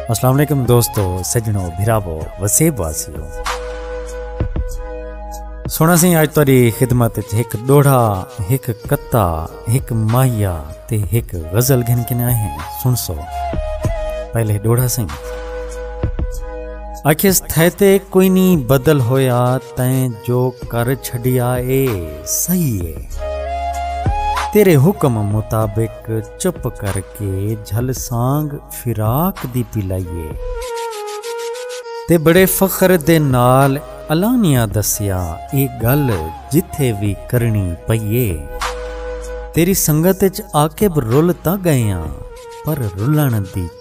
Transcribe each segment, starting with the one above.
السلام علیکم دوستو سجنو بھراو وسیب واسیو سونا سی اج تاری خدمت وچ ایک ڈوڑا ایک کتا ایک ماہیا تے ایک غزل گھن کے نہ ہیں سن سو پہلے ڈوڑا سی اکھس تھے تے کوئی نہیں بدل ہویا تیں جو کر چھڈیا اے صحیح ہے تیرے حکم مطابق چپ کر کے جھل سانگ فراق دی پی لائیے تے بڑے فخر دے نال علانیہ دسیا اے گل جتھے وی کرنی پئیے تیری سنگت اچ عاقب رل تاں گئے ہاں پر رلن دی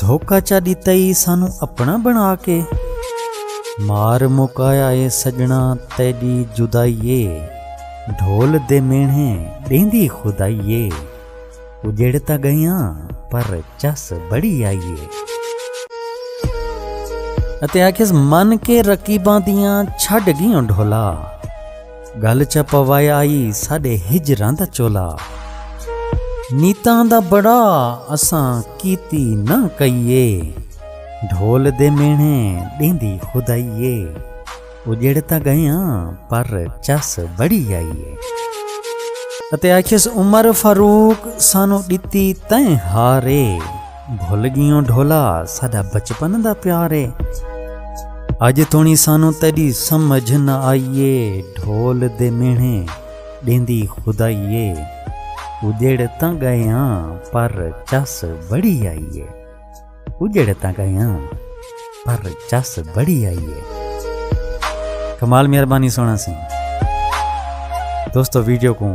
دھوکا چا ڈتا ای سانوں اپنا بنا کے۔ مار مکایا اے سجنا تیڈی جدائی اے۔ ڈھول دے مینھے ڈیندی خدائی اے۔ اجڑ تاں گئیاں پر چس بڑی آئی اے۔ اتے آکھیس من کے رقیباں دیاں چھڈ گیوں ڈھولا۔ گل چا پوایا آئی ساڈے ہجراں دا چولا نیتاں دا بڑا اساں کیتی نہ کئیے ڈھول دے مینے ڈیندی خدائیے اجڑ تا گئیاں پر چس بڑی آئیے اتے آکھیس عمر فاروق سانو ڈتی تیں ہارے بھل گیوں ڈھولا ساڈا بچپن دا پیار اے اج توڑیں سانوں تیڈی سمجھ نہ آئی اے ڈھول دے مینھے ڈیندی خدائی اے اجڑ تاں گئے آں پر چس بڑی آئی اے اجڑ تاں گئے آں پر چس بڑی آئی اے کمال مہربانی سونا سنگھ دوستو ویڈیو کو